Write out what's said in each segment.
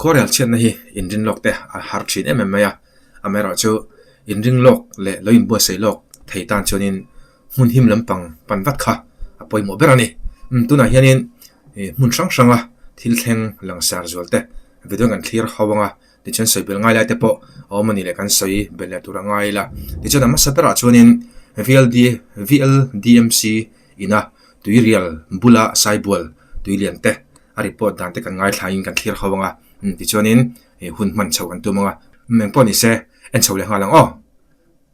Khuarual chhiatna hi inring lawk te a har thin em em mai a, amaherawhchu inring lawk leh lo inbuaisei lawk thei tan chuanin hmun him lampang pan vat kha a pawimawh ber a ni. Tunah hianin hmun hrang hranga thil thleng langsar zual te ve dawn kan thlir hau ang a. tichuan sawi bel ngai lai te pawh a awm a nih leh kan sawi bel leh tur a ngai ila tichuan a hmasa berah chuanin VLDMC ina tuirial bula saibual tui lian te a report dan te kan ngaithla in kan thlir kho ang a tichuanin hun hman chho kan tum ang a engpawh ni se en chho leh nghal ang aw.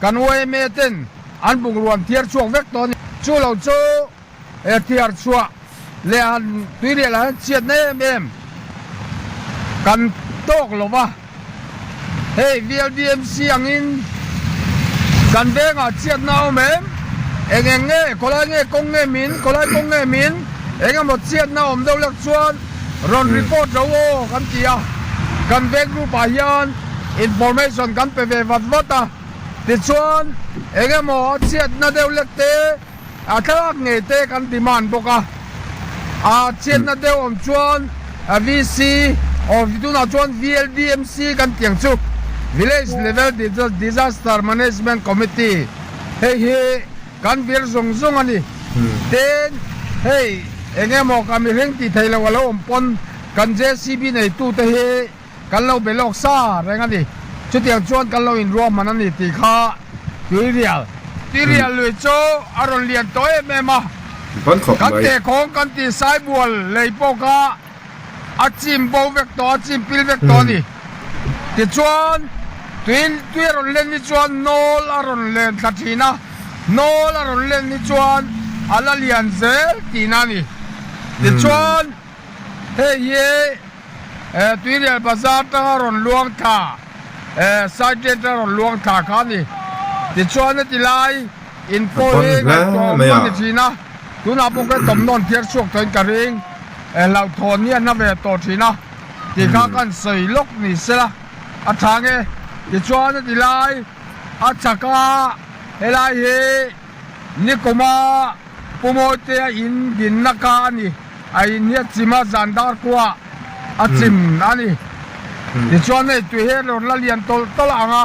Kan yma ten an bungrûam thiar chhuak vek tawh a ni. Chu lo chu e thiar chhuah leh han tui leh lah hian chhiatna em em kan tâwk lo va, hei VLBMC angin kan vêngah chhiatna a awm em? Eng eng nge? Khawlai nge kawng nge min? Khawlai kawng nge min? Eng emaw chhiatna awm deuh lek chuan Rawn report lo aw kan ti a, kan veng group ah hian information kan pe ve vat vat a, tichuan eng emaw a chhiatna deuh lek te, a thlalak ngei te kan demand bawk a, a chhiatna deuh awm chuan VC aw tunah chuan VLDMC kan tih ang chu, Village Level Disaster Management Committee, hei hi Kan vir zawng zawng a ni. Ten, hei eng emaw kan mi reng tih theih loh a lo awm pawn kan JCB neitute hi kan lo be lawk sa reng a ni. Chutiang chuan kan lo inruahman a ni tih kha tuirial tih rial lui chu a rawn lian tawh em em a. Kan tehkawng kan tihsai bual lei pawh kha. A chim bo vek tawh a chim pil vek tawh a ni. Tichuan, tui tui a rawn len hi chuan nawl a rawn len thla thin a, nawl a rawn len hi chuan a la lian zel tihna a ni. Tichuan, hei hi eh Tuirial bazar tanga rawn luang thla eh side gate a rawn luang thla kha a ni. Tichuan heti lai. In pawi hi ngaihtuah awm lo ni thin a, tunah pawh ka tlawm nawn phiar chhuak tawhin ka ring eh hlauh thawn hi a hna ve tawh thin a tih kha ka han sawi lawk ni se la a tha nge tichuan a ti lai a chak a helai hi nikuma pumawitea a in din na ka a ni a in hi a chim a zan dar kuah a chim a ni tichuan hei tui hi a rawn la lian tawlh tawlh ang a.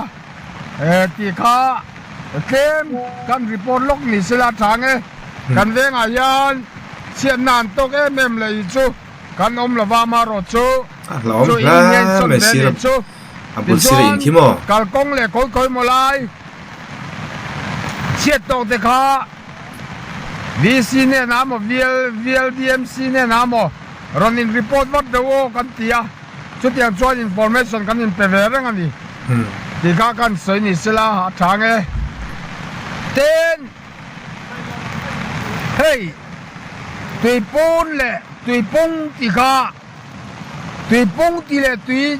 Ti kha tlem kan report lawk ni se la chang e. Kan vengah hian chhiatna an tawk em em leh i chu kan awm lo va amarawt chu chu i inheng sawn ve ni chu. Tichuan kalkawng leh kawikhawi maw lai chhiat tawh te kha VC nena maw VLDMC nena maw rawn in report vat deuh aw kan ti a. Chutiang chuan information kan inpe ve reng a ni tih kha kan sawi ni se la, a tha nge. Tin, hei tuipun leh tuipung tih kha, tuipung tih leh tui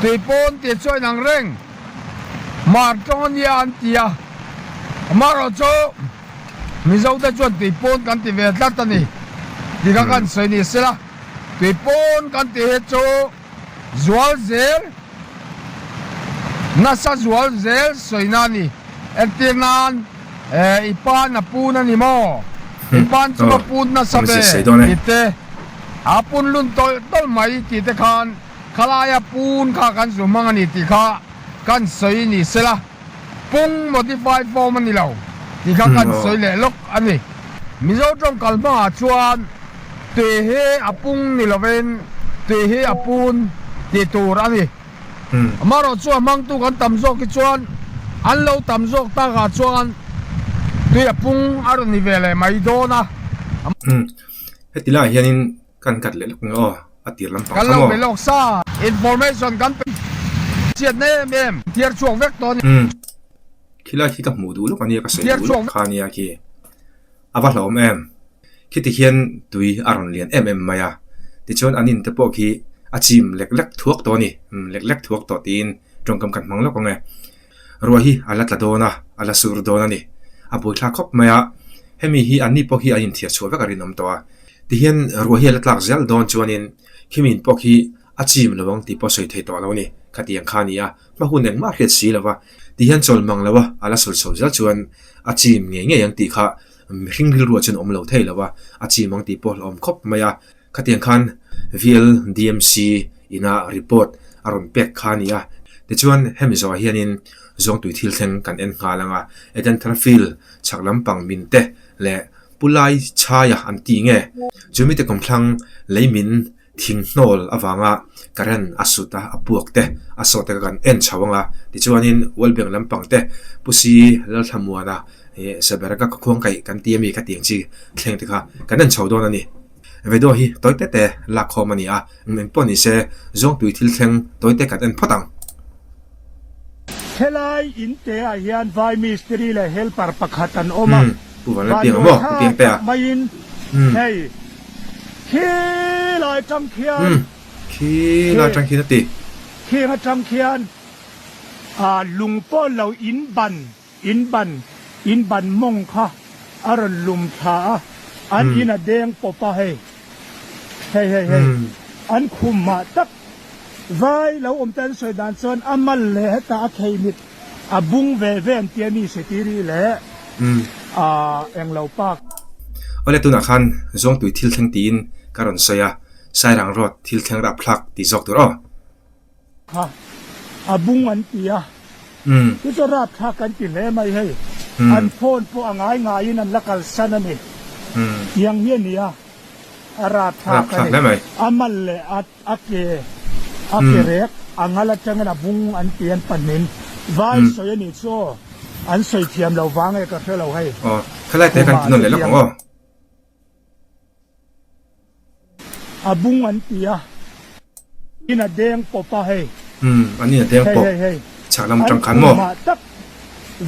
tuipun tih chu a inang reng. Mar tawng a nia an ti a, amaherawh chu Mizote chuan tuipun kan ti ve tlat a ni tih kha kan sawi ni se la. Kei pawn kan ti hi chu zual zel nasa zual zel sawina a ni. Engtir nan i pa na pun a ni maw? I pan chu ka pun nasa ve ti te, a pun lun tawlh tawlh mai ti te khan khalaia pun kha kan zu hmang a ni tih kha kan sawi ni sela. Kung modified form a ni lo tih kha kan sawi leh lawk a ni. Mizo tawngkal hmaah chuan tui hi a pung ni lovin tui hi a pun tih tur a ni. Amaherawh chu a hmangtu kan tam zawk hi chuan an lo tam zawk takah chuan tui a pung a rawn ni ve leh mai dawn a. Heti laiah hianin Kan cut leh lawk nge aw a tir lampang kha maw. Kan lo melh awk sa information kan pe chiat mai em em thiar chhuak vek tawh ania. Umm khilai khi ka hmuh duh lawk ania ka sawi duh lawk kha ania khi a va hlawm em khiti khian tui a rawn lian em em mai a tichuan an in te pawh khi a chim lek lek thuak tawh ani lek lek thuak tawh tiin tawngkam kan hmang lawk ang e Ruai hi a la tla dawn a, a la sur dawn a ni. A buaithlak khawp mai a, hemi hi an ni pawh hi a inthiah chhuah vek a rinawm tawh a. Tihian Ruai hi a la tlak zial dawn chuanin Khimin pawk hi a chim lo ang tih pawh sawi thei tawh lo a ni. Khatiang kha a ni a, hma hun engmah hriat si lo a, tihian chawl mang lo a, a la sawi chho zial chuan a chim ngei ngei ang tih kha mihring rilruah chuan a awm lo thei lo a, a chim ang tih pawh a la awm khawp mai a. Khatiang khan VLDMC ina report a rawn pek kha a ni a, tichuan hemi zawngah hianin zawngtui thil thleng kan en nghal ang a, Eden Tharafil chhak lampang min te leh Pu Lai Chhai-a an tih nge? Chu mite kum thlang lei min thinghnawl avanga current a sut a, a puak te a sawh te kha kan en chho ang a, tichuanin World Bank lampang te Pu Sii Lalthlamuana He Seberaka ka khuang kaih kan ti ami ka tiang chi thleng te kha kan en chho dawn a ni. Vedo hi tawi te te lak khawm a ni a, umm engpawh ni se zawngtui thil thleng tawi te kan en phawt ang. Helai in te ah hian vai mistiri leh helper pakhat an awm a, Bannuai tha tak mai in hei khi lai tang khian khi lai tang khian a ti. Khi nga tang khian lung pawl lo in ban. In ban, in ban mawng kha a rawn lum thla a, an in a deng pawp a hei, hei hei hei, an khum mah tak. Vai lo awm te an sawi dan chuan a mal leh heta a khei mit a bung ve ve an tia mi se ti rih le a eng lo pak. Awle tunah khan zawngtui thil thleng tiin ka rawn sawi a, Sairang Road thil thleng rap thlak ti zawk tur aw. Kha a bung an ti a, chu chu rapthlak kan ti hle mai hei, an phone pawh a ngai ngaiin an la kalsan a ni, tiang hi a ni a, a rapthlak a ni, a mal leh a ke a ke rek a ngal atangin a bung an ti an pahnin vai sawi a nih chu aw, an sawi thiam lo vang nge ka hre lo hei, khumah chu tiang. A bung an ti a, in a deng pawp a hei. Umm, an in a deng pawp. Hei hei hei. Chhak lam tang khan maw? An khumah tak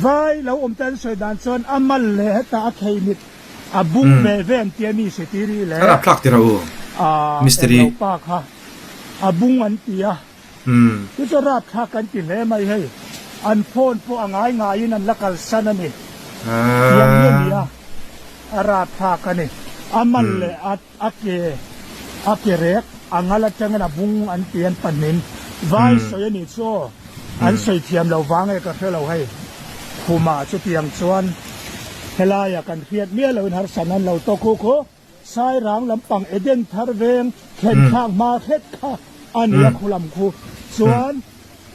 vai lo awm te an sawi dan chuan a mal leh heta a khei mit a bung ve ve an ti a ni se tih ri le. An ap thlak tirh a u, Mistiri. Englo pa kha a bung an ti a. Umm. Gujarat kha kan ti hle mai hei, an phone pawh a ngai ngaiin an la kalsan a ni. Tiang nge nia? A rat phak a ni. A mal leh a a ke, a ke rek, a ngal atangin a bung an ti an pahnin. Vai sawi a nih chu aw, an sawi thiam lo vang nge ka hre lo hei. Khumah chutiang chuan, Helaia kan hriat miah loin harsan an lo tawk khukhu. Sairang lampang Eden thar veng thlenphak hma hret kha a ni a, khulam khu. Chuan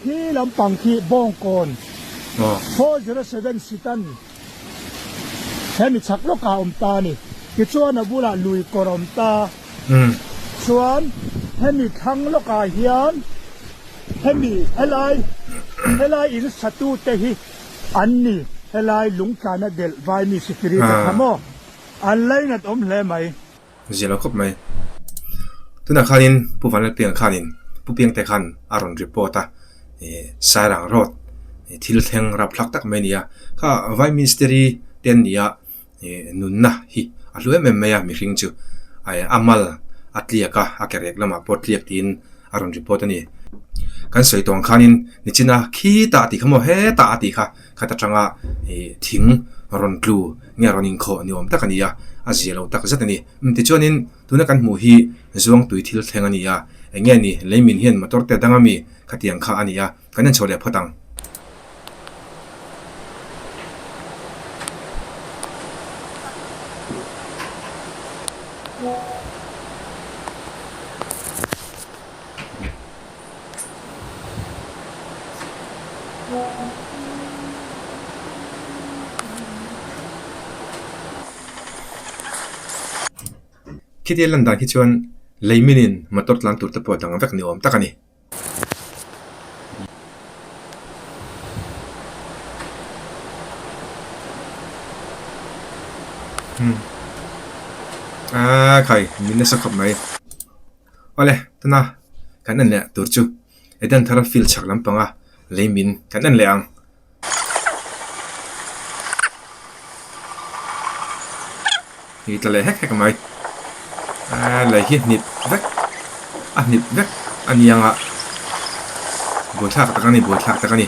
hi lampang khi bawngkawn four zero seven sitan he mi chak lawkah a awm ta a ni. Tichuan a bulah lui kawr a awm ta chuan hemi thlang lawkah hian hemi helai helai in satute hi an ni, helai lungtlana delh vai mi Spirit a kha maw? An lei nat awm hle mai. Ziah lo khawp mai. Tunah khanin Pu Vanlalpianga khanin Pu Piangte khan a rawn report a, Sairang Road thil thleng rap thlak tak mai a ni a, kha Vai Ministry te an nia nunna hi a hlu em em mai a mihring chu a mal a tliak a, a ke rek lamah pawh tliak tiin a rawn report a ni. Kan sawi tawng khanin nichina khi tah tih kha maw hetah a tih kha. khat atanga ihh thing rawn tlu nge rawn inkhawh ni awm tak a ni a a zia lo tak zet a ni tichuanin tuna kan hmuh hi zuangtui thil thleng a ni a eng nge ni leimin hian motor te a dang a mi khatiang kha a ni a kan en chho leh phawt ang. Khitial lan dan khi chuan lei minin motor tlang tur te pawh a dang vek ni awm tak a ni. Ahh khai, min a sa khawp mai. Awle, tuna kan en leh tur chu Eden Thara Field chhak lampanga lei min kan en leh ang. Hei tla leh hek hek mai. Ah, lei hi hnip vek. A hnip vek ani anga. Buai thlak tak ani, buai thlak tak ani.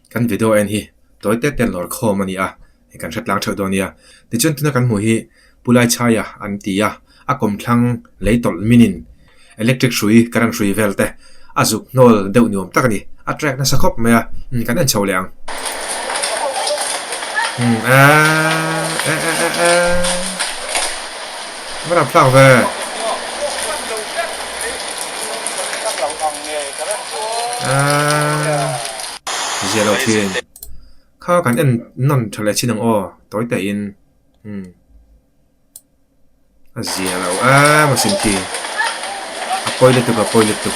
Kan video en hi tawi têt ten lawr khawm a ni a, hei kan hre tlang theuh dawn a nia. Tichuan tuna kan hmuh hi Pu Laichhaia an ti a, a kawm thlang lei tawlh minin electric hrui, current hrui vel te a zuk hnawl deuh ni awm tak a ni. A track nasa khawp mai a, kan en chho leh ang. Umm aah eeh eeh eeh. Ka rak tlak ve. Zia lo thin. Kha kan en nawn tha leh chin ang aw, tawi teh in. Umm. A zia lo a maw sin khi. A pawi lutuk a pawi lutuk.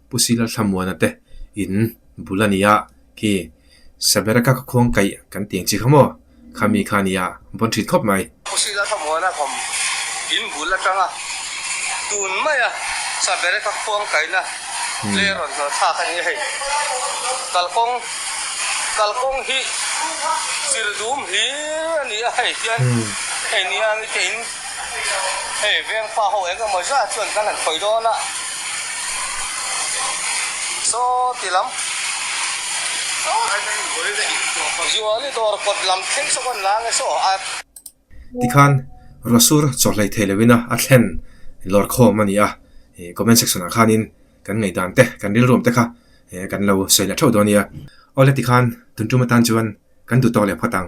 Pu Sila Thlamuana te in bul a ni a, khi Sabera ka ka khuang kaih kan ti ang chi kha maw? Khami kha nia vawn ṭhit khawp mai. Pu Sila Thlamuana thawm in bul aṭanga tun maia Sabera ka khuang kaihna tlei rawn hnawh thlak a nia hei. Kalkawng kalkawng hi chir dum hlîr a ni a hei tian hei niangite in. Hei vengfa ho eng emaw zat chuan kan han khawih dawn a, saw ti lam Zuali dawr kawt lam thei saw kan la nge saw a. Tikhan Rasur chawhlei thei lo in a a thlen lawr khawm a ni a, comment section ah khan in kan ngaidan te kan rilruam te kha kan lo sawi leh theuh dawn a nia. Awle tikhan tun tum atan chuan kan duh tawk leh phawt ang.